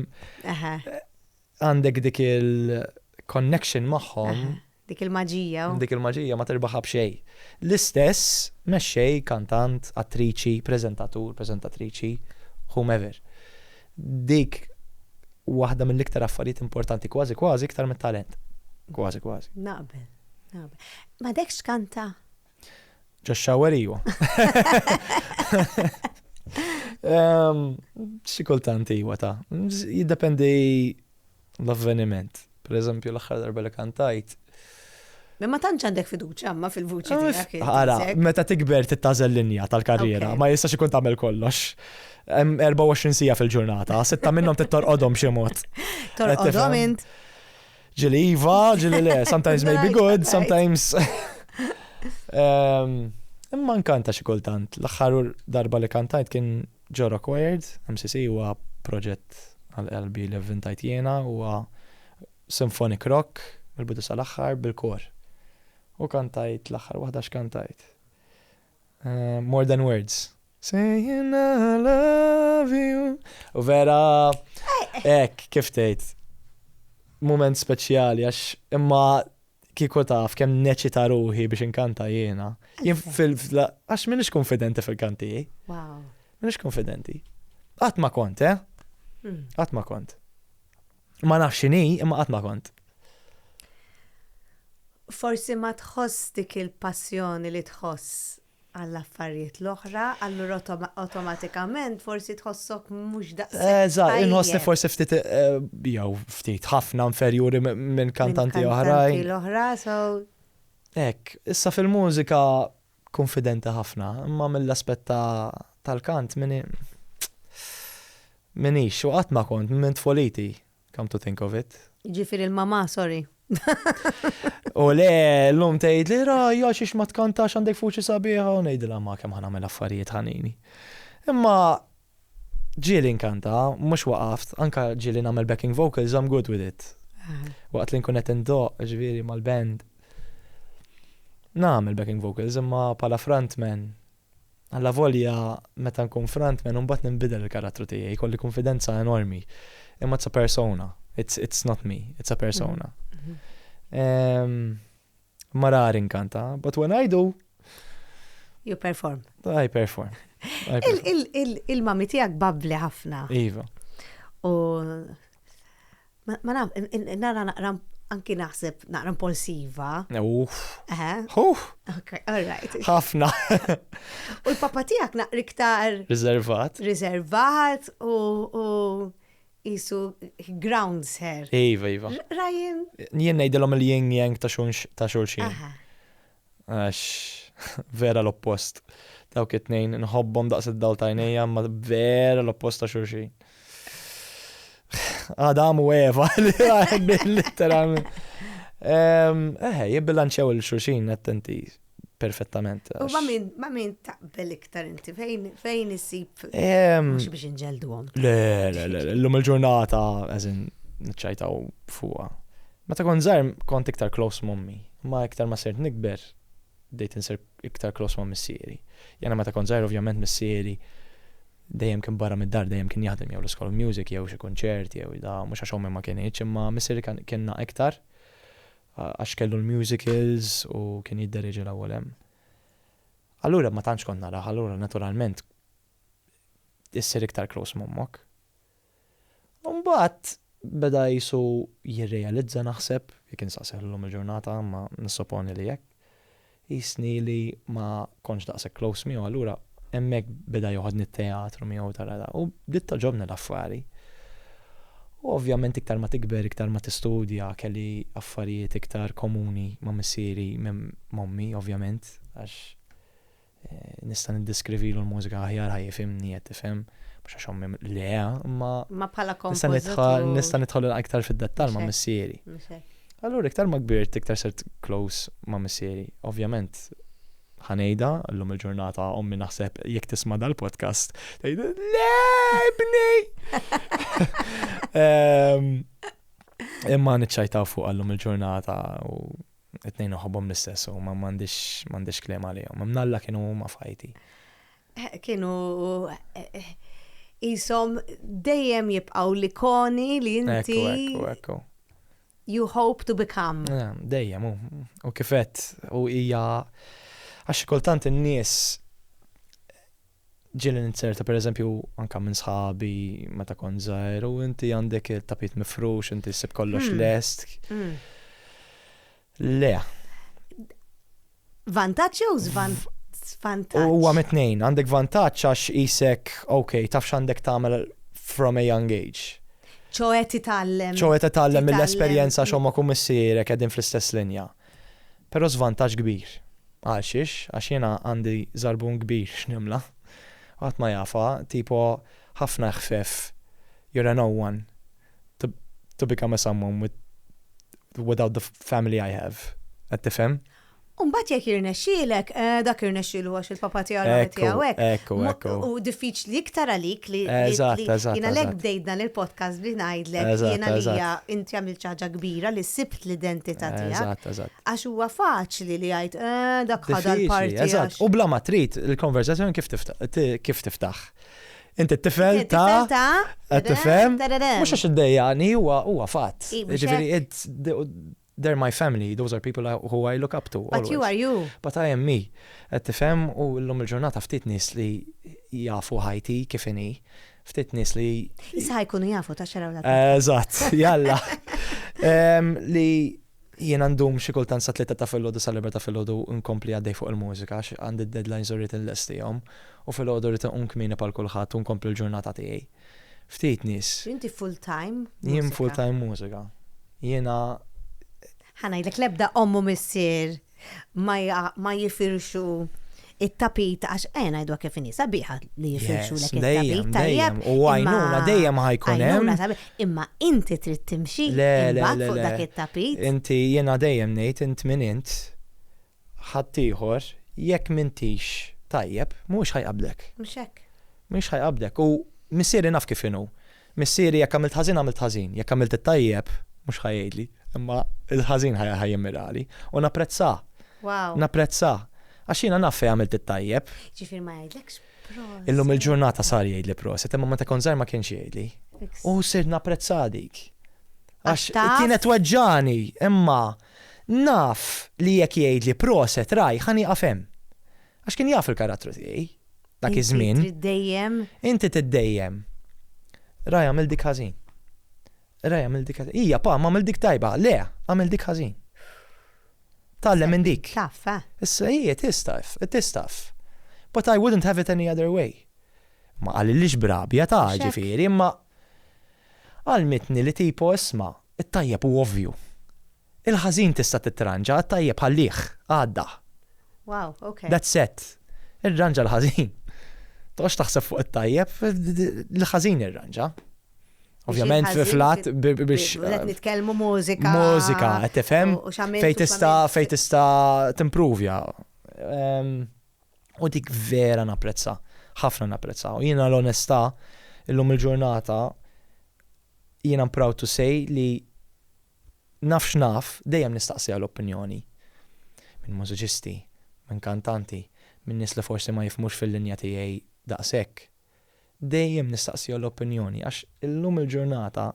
Eħe. għandek dik il-connection magħhom. Dik il-maġija. Dik il-maġija ma terbaħha b'xejn. L-istess mexxej, kantant, attriċi, preżentatur, preżentatriċi, whomever. Dik waħda mill-iktar affarijiet importanti kważi kważi iktar mit-talent. Kważi kważi. Naqbel. Ma dekx kanta? Josh Shower iju. Xi kultant iwa ta' jiddependi l-avveniment. Per eżempju l-aħħar darba li kantajt. Ma tantx għandek fiduċa ma fil-vuċi tiegħek. Ara, meta tikber tittażel linja tal-karriera, ma jistax ikun tagħmel kollox. 24 sija fil-ġurnata, sitta minnhom tittorqodhom xi mod. Torqodhom int. Ġili iva, ġili le, sometimes may be good, sometimes. Ehm, imma nkanta xi kultant. L-aħħar darba li kantajt kien ġo Required, MCC huwa proġett għal-qalbi li vvintajt jiena huwa symphonic rock mill-bidu sal-aħħar bil-kor. U kantajt l-aħħar waħda x'kantajt. More than words. Saying I love you. U vera, ek, kif tgħid. Moment speċjali għax imma kieku taf kemm neċita ruħi biex inkanta jiena. Jien fil għax minix konfidenti fil-kanti. Wow. Minix konfidenti. Qatt ma kont, eh? Hmm. Qatt ma kont. Ma nafx x'inhi, imma qatt ma kont. Forsi ma tħoss dik il-passjoni li tħoss għall-affarijiet l-oħra, allura awtomatikament forsi tħossok mhux daqshekk. Eżatt, inħossni forsi ftit eh, jew ftit ħafna inferjuri minn kantanti oħrajn. L-oħra, so. Ek, issa fil-mużika konfidenti ħafna imma mill-aspett tal-kant mini minix u qatt ma kont minn tfoliti come to think of it. Jiġifieri l-mamà sorry. U le llum tgħidli ra għax ix ma tkantax għandek fuċi sabiħa u ngħidilha ma kemm ħa nagħmel affarijiet ħanini. Imma Ġieli nkanta, mhux waqaft, anke ġieli nagħmel backing vocals, I'm good with it. Waqt li nkun qed indoqq, ġifieri mal-band, nagħmel backing vocals imma bħala frontman, allavolja meta nkun frontman imbagħad ninbidel il-karattru tiegħi, jkolli kunfidenza enormi. Imma it's a persona, it's not me, it's a persona. Ma rar inkanta, but when I do. You perform. I perform. Il-mami tijak babli ħafna. Iva. U ma naf, nara naqra anki naħseb naqra impulsiva. Uff. Uff. Ok, all right. Ħafna. U l-papa tijak naqra iktar. Riservat. Riservat u qisu he grounds her. Iva, iva. Ryan. Jien ngħidilhom il-yin yang ta' xulxin. Aha. Għax vera l-oppost. Dawk it-tnejn nħobbhom daqs id-dawl ta' għajnejja ma vera l-oppost ta' xulxin. Adam u Eva li literalment. Eħe, jibbilanċew il-xulxin attenti. perfettament. U ma min taqbel iktar inti fejn isib mhux biex inġelduhom. Le, le, le, l-lum il-ġurnata eżin nċajtaw fuqa. Meta kont żgħar kont iktar close mommi, ma iktar ma sirt nikber dejt insir iktar close ma' missieri. Jena meta kont żgħar ovvjament missieri dejjem kien barra mid-dar, dejjem kien jaħdem jew l-iskola music jew xi kunċert jew da mhux għax ommi ma kienx, imma missieri kien iktar. Għax kellu l-musicals u kien jiddereġi l-ewwel hemm. Allura ma tantx kont narah, allura naturalment issir iktar close m'ommok. U mbagħad beda qisu jirrealizza naħseb, jekk insaqsih llum il-ġurnata imma nissoponi li hekk, Qisni li ma kontx daqshekk close miegħu allura hemmhekk beda joħodni t-teatru miegħu tara da. U bdiet togħġobni l-affari. U ovvjament iktar ma tikber, iktar ma tistudja, kelli affarijiet iktar komuni ma' missieri minn m'ommi ovvjament għax nista' niddiskrivilu l-mużika aħjar ħa jifhimni qed tifhem, mhux għax ommi le, imma. Imma bħala kompożitur. Nista' nidħol iktar fid-dettall ma' missieri. Allura iktar ma kbirt iktar sirt close ma' missieri. Ovvjament ħa ngħidha, llum il-ġurnata ommi naħseb jekk tisma' dal-podcast tgħid le ibni! Ehm, imma niċċajtaw fuq llum il-ġurnata u it-tnejn noħobhom l-istess u ma m'għandix m'għandix kliem għalihom. Imnalla kienu huma fajti. Kienu jisom dejjem jibqaw l-ikoni li inti. Ekku, ekku, You hope to become. Eh, dejjem, u kifet, u hija. Għax kultant in-nies ġieli ninzerta per eżempju anka minn sħabi meta kont żgħir u inti għandek il-tapit mifrux, inti ssib kollox hmm. lest. Hmm. Le. Vantaġġ jew żvantaġġ? vantaġġ. Huwa mitnejn, għandek vantaġġ għax isek, ok, taf x'għandek tagħmel from a young age. ċoħe titgħallem. ċoħe titgħallem mill-esperjenza x'homma kum missierek qegħdin fl-istess linja. Però żvantaġġ kbir. Għal xiex, għax jiena għandi żarbun kbir x'nimla. Qatt ma jafa, tipo ħafna ħfef, you're an one. to, to become a someone with, without the family I have. Qed tifhem? Umbat jek jirnexxilek, eh, dak jirnexxilu għax il-papa tiegħu għamet tiegħu hekk. U diffiċli iktar għalik li jiena lek bdejt dan il-podcast li ngħidlek jiena li hija inti għamil ċaġa kbira li sibt l-identità tiegħek. Għax huwa faċli li jgħid eh, dak ħadha l-parti. U bla ma trid il-konversazzjoni kif tiftaħ. Inti t-tifel ta' ta' qed tifhem? Mhux għax iddejjaqni huwa huwa fatt. Jiġifieri it's they're my family, those are people who I look up to. But you are you. But I am me. Qed tifhem u llum il-ġurnata ftit nies li jafu ħajti kif inhi, ftit nies li Issa ħajkunu jafu ta' xaraw l Eżatt, jalla. Li Jiena ndum xi kultant sa tlieta ta' filgħodu sa l-erbgħa ta' filgħodu nkompli għaddej fuq il-mużika għax għandi d-deadlines u rrid inlestihom u filgħodu rrid inqum kmieni bħal kulħadd u nkompli l-ġurnata tiegħi. Ftit nies. Inti full time mużika? Jien full time mużika. Jiena. Ħa ngħidlek l-ebda omm u missier ma jifirxu it-tapit għax eh ngħidwa kif inhi sabiħa li jifirxu lek it-tapit tajjeb. U għajnuna dejjem ħajkun hemm. Imma inti trid timxi imbagħad fuq dak it-tapit. Inti jiena dejjem ngħid int min int ħaddieħor jekk mintix tajjeb mhux ħajqablek. Mhux hekk. Mhux ħajqablek u missieri naf kif inhu. Missieri jekk għamilt ħażin għamilt ħażin, jekk għamilt it-tajjeb mhux ħa jgħidli, imma l-ħażin ħa jimmirali u napprezzah. Wow. Napprezzah. Għax jiena naf fejn għamilt it-tajjeb. Ġifier ma jgħidlekx proset. Illum il-ġurnata sar jgħidli proset, imma meta kont żgħir ma kienx jgħidli. U sir napprezzah dik. Għax kienet weġġani, imma naf li jekk jgħidli proset raj ħani għafem. Għax kien jaf il-karattru tiegħi, dak iż-żmien. Inti trid dejjem. Inti trid dejjem. Raj għamil dik ħażin. Raj għamil dik ħażin. Ija, pa, ma għamil dik tajba. Le, għamil dik ħażin. Tallem minn dik. Taf, eh? Issa hija tistaf, tistaf. But I wouldn't have it any other way. Ma għalilix brabja ta' ġifiri, imma għalmitni li tipo isma, it-tajjeb u ovvju. Il-ħażin tista' titranġa, għat-tajjeb ħallih, għaddah. Wow, ok. That's it. Irranġa l-ħażin. Toqgħodx taħseb fuq it-tajjeb, l-ħażin irranġa. Ovvjament flat biex. Qed eh, nitkellmu mużika. Mużika, qed tifhem. Fejn tista' fejn tista' timpruvja. Ehm, u dik vera napprezza, ħafna napprezza. U jiena l-onestà illum il-ġurnata jiena proud to say li Naf x'naf, dejjem nistaqsiha l-opinjoni. Minn mużiċisti, minn kantanti, minn nies li forsi ma jifhmux fil-linja tiegħi daqshekk. Dejjem nistaqsiha l-opinjoni għax illum il-ġurnata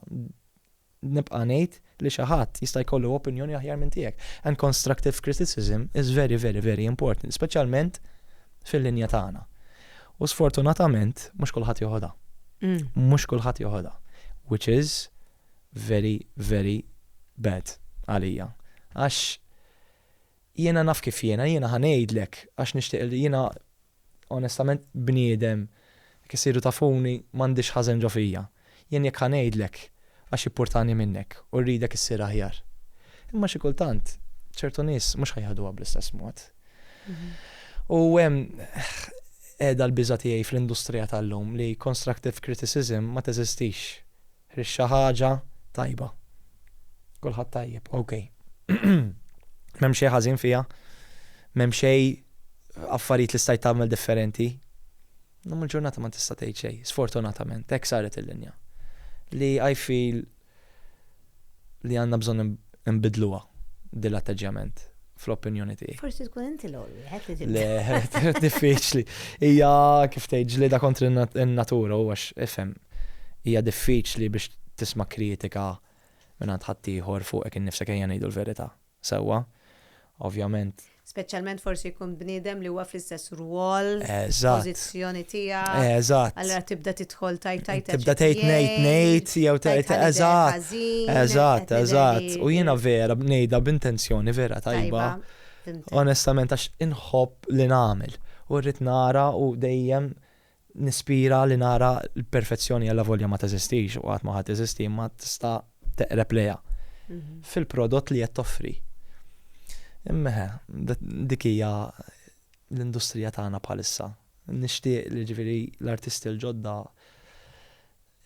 nibqa' ngħid li xi ħadd jista' jkollu opinjoni aħjar minn tiegħek. And constructive criticism is very very very important, speċjalment fil-linja tagħna. U sfortunatament mhux kulħadd joħodha. Mhux kulħadd joħodha. Which is very very bad għalija għax jiena naf kif jiena, jiena ħa ngħidlek għax nixtieq li jiena onestament bniedem jekk issiru tafuni m'għandix ħażen ġo fija. Jien jekk ħa ngħidlek għax jippurtani minnek u rridek issir aħjar. Imma xi kultant ċertu nies mhux ħa jaħduha bl-istess mod. U hemm qiegħda l-biża' tiegħi fl-industrija tal-lum li constructive criticism ma teżistix. Rixxa ħaġa tajba. Kulħadd tajjeb, ok. M'hemm xejn ħażin fiha. M'hemm xejn affarijiet li stajt tagħmel differenti. Illum il-ġurnata ma tista' tgħid xejn, sfortunatament, hekk saret il-linja. Li I feel li għandna bżonn Inbiddluha din l-atteġġjament fl-opinjoni tiegħi. Forsi tkun inti l-ewwel wieħed li tibda. Le, diffiċli. Hija kif tgħid ġlieda kontra n-natura u għax ifhem hija diffiċli biex tisma' kritika minn għand ħaddieħor fuqek innifsek ejja ngħidu l-verità sewwa. ovvjament. Speċjalment forsi jkun bniedem li huwa fl-istess rwol, pożizzjoni tiegħek. Eżatt. Allura tibda tidħol tajt tajt. Tibda tgħid ngħid ngħid jew tgħid eżatt. Eżatt, eżatt. U jiena vera bnejda b'intenzjoni vera tajba. Onestament għax inħobb li nagħmel. U rrid nara u dejjem Nispira li nara l-perfezzjoni allavolja ma teżistix u qatt ma ħa teżisti imma tista' teqreb lejha fil-prodott li qed toffri. Imma dik hija l-industrija tagħna bħalissa. Nixtieq li ġifieri l-artisti l-ġodda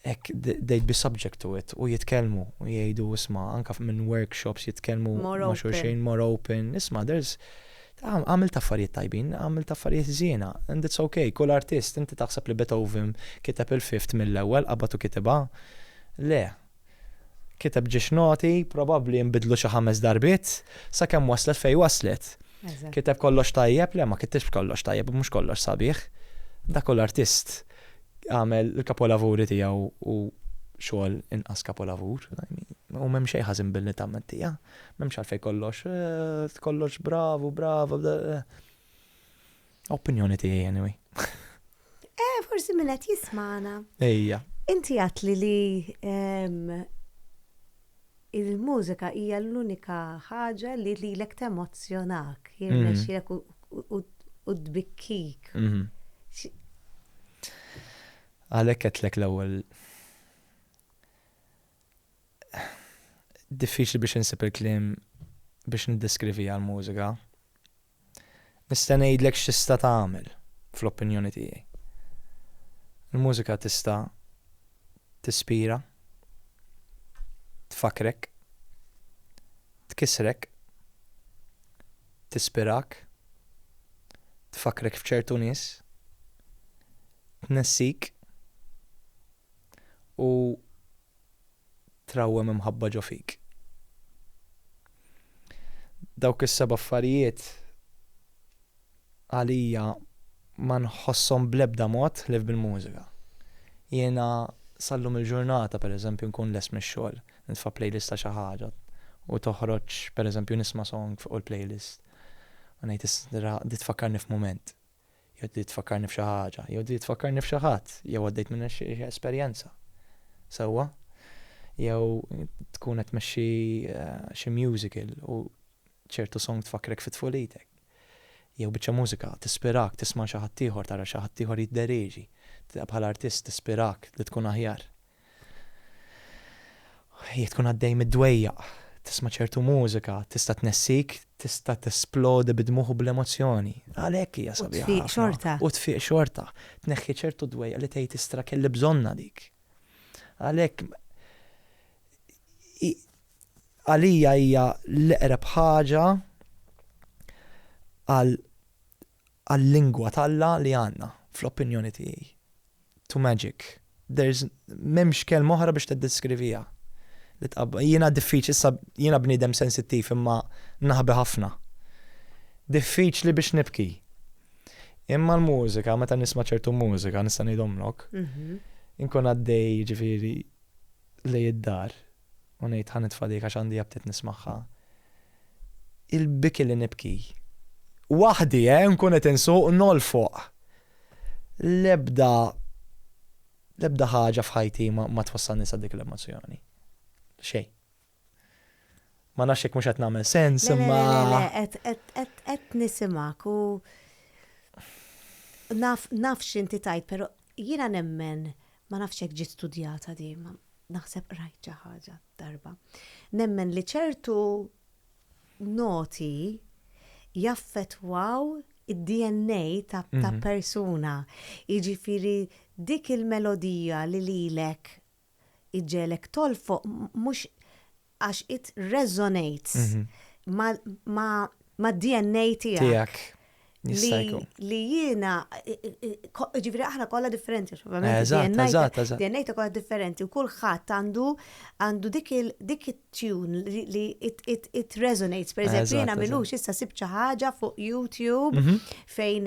hekk they'd be subject to it u jitkellmu u jgħidu isma' anke minn workshops jitkellmu ma' xulxin more open isma' there's għamilt affarijiet tajbin, għamilt affarijiet ħżiena and it's ok, kull artist inti taħseb li Beethoven kiteb il-Fifth mill-ewwel qabad u kitibha? Le. Kiteb ġiex noti, probabbli nbidlu xi ħames darbiet, sakemm waslet fejn waslet. Kiteb kollox tajjeb? Le ma kitibx kollox tajjeb u mhux kollox sabiħ. Dak hu l-artist. għamel il-kapolavuri tiegħu u xogħol inqas kapolavur. U m'hemm xejn ħażin billi tagħmel tiegħha. M'hemmx għalfejn kollox, eh, kollox bravu, bravu. Eh. Opinjoni tiegħi anyway. Eh, forsi minn qed jismana. Ejja. Inti għatli li ehm, Il-mużika hija l-unika ħaġa li lilek temozzjonak, jirnexxielek u tbikkik. Mhm. Għalhekk qedtlek l-ewwel diffiċli biex insib il-kliem biex niddeskrivija l-mużika. Nista' ngħidlek x'tista' tagħmel, fl-opinjoni tiegħi. Il-mużika tista' tispira, tfakkrek, tkissrek, tispirak, tfakkrek f'ċertu nies, tnessik u trawwem imħabba ġo fik. Dawk is-seba' affarijiet għalija ma nħosshom bl-ebda mod ħlief bil-mużika. Jiena sal-lum il-ġurnata, pereżempju, nkun lest mix-xogħol, nitfa' playlist ta' xi ħaġa u toħroġ, pereżempju, nisma' song fuq il-playlist u ngħid, 'Di tfakkarni f'mument. Jew trid tfakkarni f'xi ħaġa, jew trid tfakkarni f'xi ħadd, jew għaddejt minn xi esperjenza. Sewwa? Jew tkun qed tmexxi eh, xi musical u ċertu song tfakkrek fi tfulitek. Jew biċċa mużika tispirak tisma' xi ħadd ieħor, tara xi ħadd ieħor jidderieġi, bħala artist tispirak li tkun aħjar. Jekk tkun għaddej mid-dwejjaq, tisma' ċertu mużika tista' tnessik, tista' tesplodi bid-dmugħ u bl-emozzjoni. Għalhekk hija sabiħa ħafna. U tfiq xorta. U tfiq xorta. Tneħħi ċertu dwejjaq li tgħid istra kelli bżonnha dik. Għalhekk għalija hija l-eqreb ħaġa għal għal-lingwa t'Alla li għandna, fl-opinjoni tiegħi. To magic. There's m'hemmx kelma oħra biex tiddeskriviha. Li tqab jiena diffiċli issa jiena bniedem sensittiv imma naħbi ħafna. Diffiċli biex nibki. Imma l-mużika, meta nisma' ċertu mużika nista' ngħidhomlok, mhm. inkun għaddej ġifieri lej id-dar. u ngħid ħa nitfa' dik għax għandi aptit nismagħha. Il-biki li nibki. Waħdi, eh, nkun qed insuq, nolfoq. L-ebda l-ebda ħaġa f'ħajti ma twassalni sa dik l-emozzjoni. Xejn. Ma nafx jekk mhux qed nagħmel sens imma. Qed nisimak u naf x'inti tajt, però jiena nemmen Ma nafx jekk ġiet studjata din, imma naħseb qrajt xi ħaġa darba. Nemmen li ċertu noti jaffettwaw id-DNA ta', ta mhm. persuna. Jiġifieri dik il-melodija li lilek iġġelek tolfoq mhux Għax it resonates ma' DNA tijak. Li jiena, ġifiri aħna kolla differenti, DNA ta' kolla differenti, u kullħat għandu għandu dik il-tune li it resonates, per eżempju, jiena minux issa sibċa ħaġa fuq YouTube fejn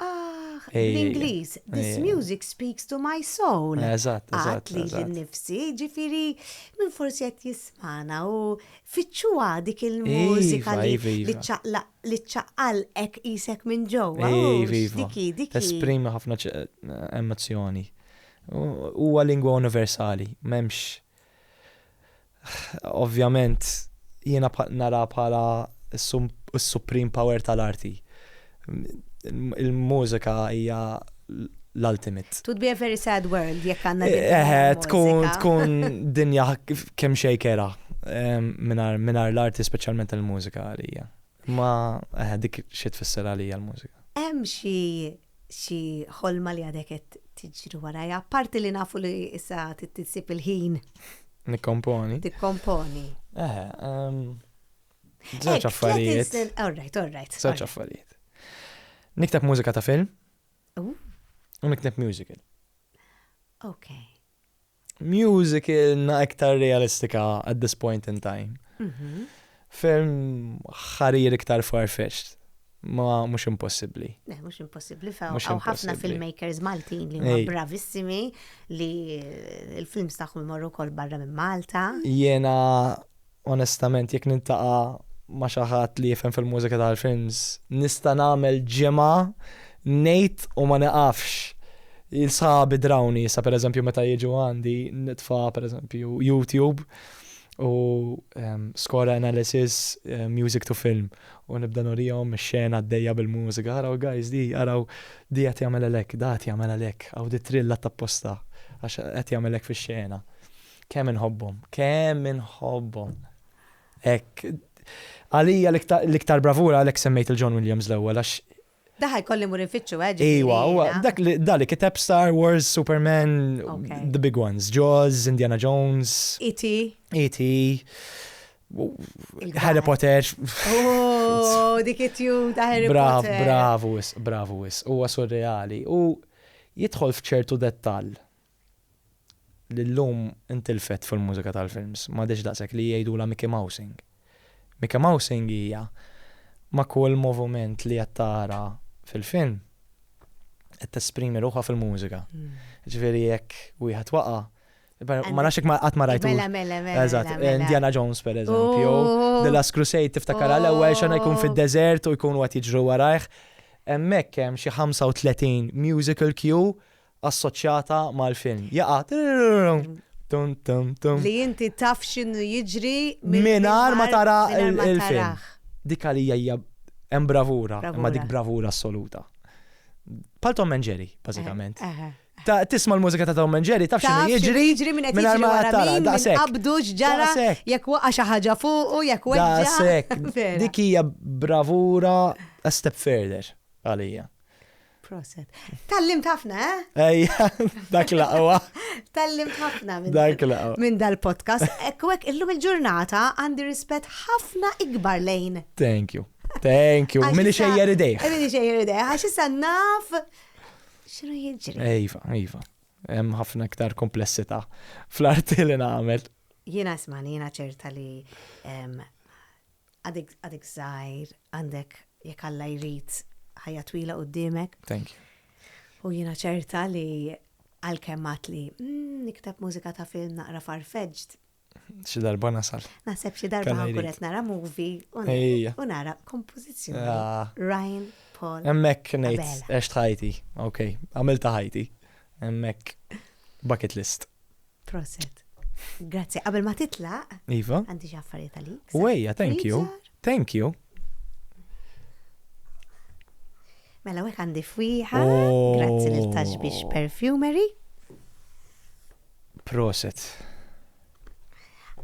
Ah, bl-Ingliż, this music speaks to my soul. Eżatt, eżatt. Li l-nifsi, ġifiri, minn forsi qed jismana u fitxuha dik il-mużika iva, iva. li ċċaqal ek isek minn ġewwa. Iva, iva. Esprimi ħafna emozzjoni. Huwa lingwa universali, m'hemmx Ovvjament jiena nara bħala s-supreme power tal-arti. Il-mużika hija l-ultimate. Twould be a very sad world jekk għandna din il-mużika. Eħe, tkun tkun dinja kemm xejn kerha mingħajr l-arti speċjalment il-mużika għalija. Ma eh, dik xi tfisser għalija l-mużika. Hemm xi xi ħolma li għadek qed tiġri warajja, apparti li nafu li issa titsib il-ħin. Nikkomponi. Tikkomponi. Eh, ehm, żewġ affarijiet. All right, all right. Żewġ affarijiet. Nikteb mużika ta' film. U nikteb musical. Okay. musicalna iktar realistika at this point in time. Mhm. Film ħarir iktar far-fetched. Ma mhux impossibbli. Le, mhux impossibbli. Fa' Mhux hawn ħafna impossibbli. filmmakers Maltin li huma Ej. bravissimi li l-films tagħhom imorru wkoll barra minn Malta. Jiena Onestament jekk niltaqa' ma' xi ħadd li jifhem fil-mużika tal-films nista' nagħmel ġimgħa ngħid u ma nieqafx. Sħabi drawni issa pereżempju meta jiġu għandi nitfa' pereżempju YouTube u score analysis music to film u nibda nurihom ix-xena għaddejja bil-mużika, araw guys di, araw di qed jagħmel għalhekk, da qed jagħmel għalhekk, hawn di trill għadd apposta għax qed jagħmel hekk fix-xena. Kemm inħobbhom, kemm inħobbhom. Hekk. Għalija l-iktar bravura għalhekk semmejt il-John Williams l-ewwel għax Daħ jkolli mur infittxu eh, ġifieri. Iwa, huwa dak li dali kiteb Star Wars, Superman, the big ones, Jaws, Indiana Jones. E.T. E.T. Harry Potter. Oh, dik it-tju ta' Harry Potter. Bravu, bravu, huwa surreali. U jidħol f'ċertu dettall li llum intilfet fil-mużika tal-films, m'għadhiex daqshekk li jgħidulha Mickey Mousing. Mickey Mousing hija ma' kull moviment li qed tara fil-film qed tesprimi ruħha fil-mużika. Jiġifieri jekk wieħed waqa', ma nafx jekk qatt ma rajt. Mela, mela, mela. Eżatt, Indiana Jones pereżempju, The Last Crusade tiftakar għall-ewwel xena jkun fid-deżert u jkunu qed jiġru warajh. Hemmhekk hemm xi 35 musical cue assoċjata mal-film. Jaqa' tum tum tum. Li inti taf x'inhu jiġri mingħajr ma tara il-film. Dik għalija hija hemm bravura, imma dik bravura assoluta. Pal Tom and Jerry, bażikament. Eh, eh, eh. Tisma l-mużika ta' Tom and Jerry, taf x'inhu jiġri. Jiġri minn qed jiġri wara tara, daqshekk. Qabdu ġara, jekk waqa' xi ħaġa fuq u jekk weġġa. Daqshekk. Dik hija bravura a step further għalija. Proset. Tallim tafna, eh? Ejja, dak laqwa. Tallim tafna minn dak laqwa. Minn dal-podcast. Ekwek, illum il-ġurnata għandi rispet ħafna ikbar lejn. Thank you. Thank you. Mili xejjer idej. Mili xejjer idej. Għax issa naf. Xinu jġri? Ejfa, ejfa. Hemm ħafna iktar komplessità fl-arti li nagħmel. Jiena smani, jiena ċerta li Għadek għadek żgħir, għandek jekk Alla jrid ħajja twila quddiemek. Thank you. U jiena ċerta li għalkemm għat li mm, nikteb mużika ta' film naqra farfeġġd. Xi darba nasal. Naħseb xi darba Kalla jrid. ħankuret nara movie u na- Ejja. u nara kompożizzjoni. Ah. Ryan Paul. Emmek nejt, Abela. eċt ħajti, ok, għamilta ħajti, emmek bucket list. Proset. Grazzi, qabel ma titlaq. Iva. Għandi xi affarijiet għalik. Wejja, thank you. Thank you. Mela wek għandi fwiħa. Oh. Grazzi lil Tashbish Perfumery. Proset.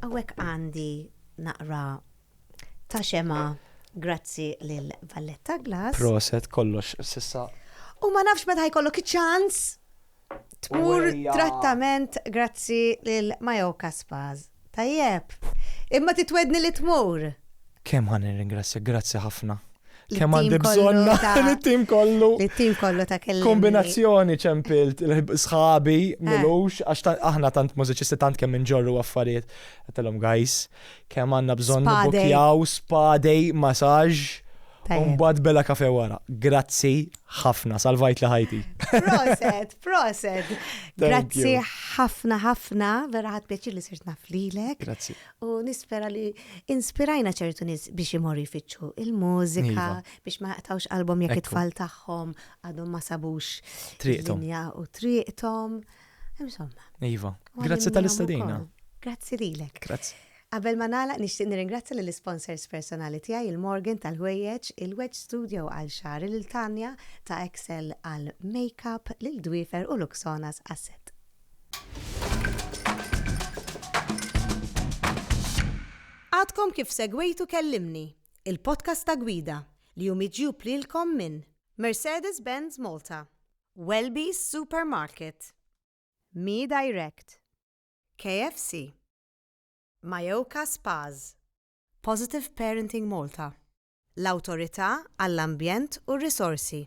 Għawek għandi naqra ta' xema grazzi lil Valletta Glass. Proset kollox sissa. U ma nafx meta ħajkollok ċans tmur trattament grazzi lil Mayoka Spas. Tajjeb. Imma titwedni li tmur. Kemm ħa nirringrazzjak, grazzi ħafna. Kemm għandi bżonna it-tim kollu. It-tim kollu ta' kelli. Kombinazzjoni ċempilt, sħabi, eh. milux, għax aħna tant mużiċisti tant kemm inġorru affarijiet. Għatalom, guys, Kemm għandna bżonn Spadej. nibbukkjaw spadej, masaġġ, u Tajjeb. mbagħad bela kafe wara. Grazzi ħafna, salvajtli ħajti. Proset, proset. Grazzi you. ħafna ħafna, vera ħadd pjaċir li sirt naf lilek. Grazzi. U nispera li inspirajna ċertu nies biex imorru jfittxu il-mużika, Iva. biex ma jaqtawx qalbhom jekk Ekku. it-tfal tagħhom għadhom ma sabux Triqthom. linja u triqthom. Insomma. Iva, grazzi tal-istadina. Grazzi lilek. Grazzi. Qabel ma nagħlaq nixtieq nirringrazzja lill isponsors personali tiegħi il-Morgan tal-ħwejjeġ, il-Wedge Studio għal xagħri lil Tanja ta' Excel għal makeup lil Dwiefer u Luxonas għas-set. Għadkom kif segwejtu Kellimni, il-podcast ta' gwida li hu miġjub lilkom minn Mercedes-Benz Malta, Welby's Supermarket, Mi Direct, KFC, Mayoka Spas, Positive Parenting Malta, l-Awtorità għall-Ambjent u r-Risorsi,